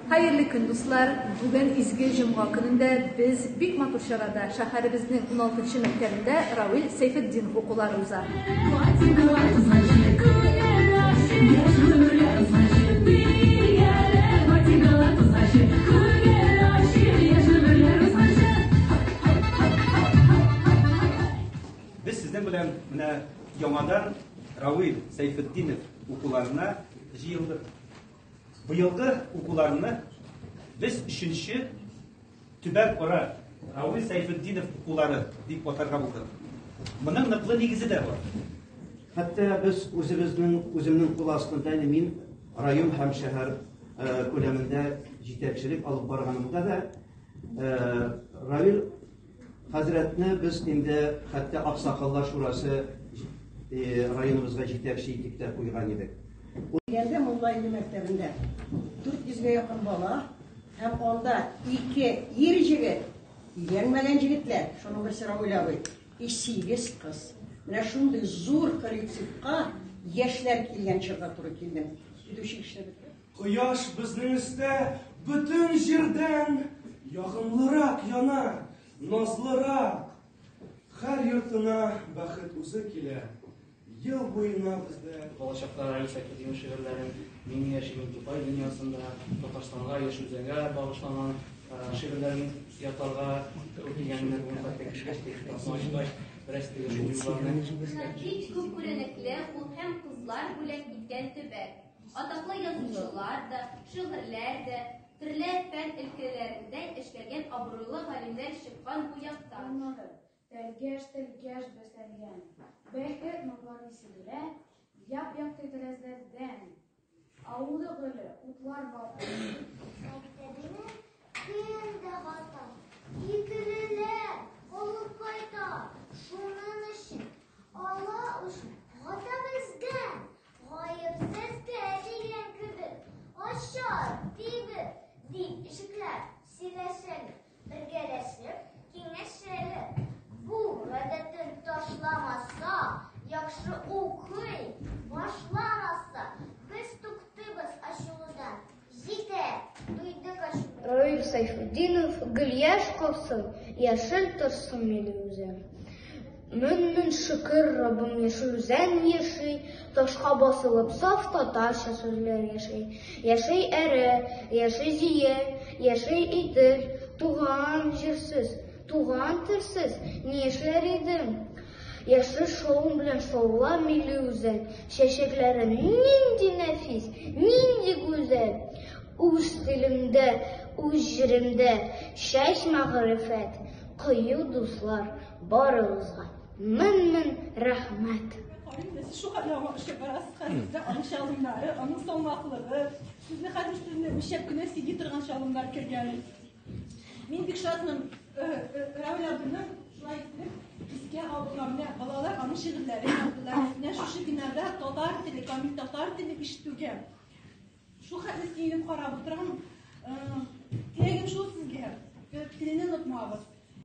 Хәерле көн, дуслар! Бүген изге җомга көнендә без бик матур чарада шәһәребезнең 16 нчы мәктәбендә Равил Сәйфетдин укулары уза. Без сезнең белән менә яңадан Равил Сәйфетдинов укуларына җыелдык. Быелгы укуларны без өченче төбәк кора Равил Сәйфетдинов укулары дип атарга булдык. Моның ныклы нигезе дә бар. Хәтта без үзебезнең үземнең кул астында мин район һәм шәһәр күләмендә җитәкчелек алып барганымда да Равил Хәзрәтне без инде хәтта Аксакаллар шурасы районыбызга җитәкче итеп тә куйган идек. Дигәндә Мулла иле мәктәбендә 400 гә якын бала һәм анда ике ир җегет, өйләнмәгән җегетләр, шуның берсе Равил абый, и сигез кыз. Менә шундый зур коллективка яшьләр килгән чорда туры килдем. Китүче кешеләр беткән. Кояш безнең өстә бөтен җирдән ягымлырак яна, назлырак. Хәр йортына бәхет үзе килә. Ел буена бездә балачактан Раиса Кидиева шигырьләрен Мин яшим Дубай дөньясында, Татарстанга, Яшелзәгә багышланган шигырьләрен ятларга үтегәннәр. Бу хәтта кешегә тиеш тапмагач, бераз тиеш юлларны. Бик күп күренекле ул һәм кызлар бүләк иткән төбәк. Атаклы язучылар да, шигырьләр дә, төрле фән өлкәләрендә эшләгән абруйлы галимнәр чыккан бу якта. Аннары тәлгәш тәлгәш бәсәлгән бәхет нурлары сибелә яп-якты тәрәзәләрдән. Авылы гөле, утлар балкып. Мәктәбенә көн дә бата, икелеләр алып кайта. Шуның өчен ала үч гата бездән. Гаепсез дигән кебек, ачар, тибеп, дип ишекләр сөйләшәле, бергәләшеп киңәшәле. Бу гадәтен ташламаса, яхшы укый, башламаса, без туктыйбыз ачылудан. Җитә, туйды качу. Раил Сайфутдинов, Гөльяш калсын, яшел торсын минем үзән. Мөңнен шөкер, Раббым яшел үзән яши, ташка басылып саф татарча сүзләр яши. Яши әре, яши зие, яши итер, туган җирсез, туган телсез, ни эшләр идең? Яшел шуың белән шаула милли үзән, чәчәкләре нинди нәфис, нинди гүзәл. Үз телемдә, үз җиремдә чәч мәгърифәт, кыю дуслар барыгызга мең-мең рәхмәт. Сез шуңа да аңа эшләп барасыз хәзер дә аның чалымнары, аның салмаклыгы. Сезне хәзер сезне үлчәп кенә сөйли торган чалымнар кергән. Мин бик шатмын. Рәүлә апаны шулай итеп искә алуга менә балалар аның шигырьләрен яздылар. Менә шушы бинада татар теле, камил татар теле ишетүгә. Шул хәтле сөенеп карап утырам. Теләгем шул сезгә. Телене онытмагыз.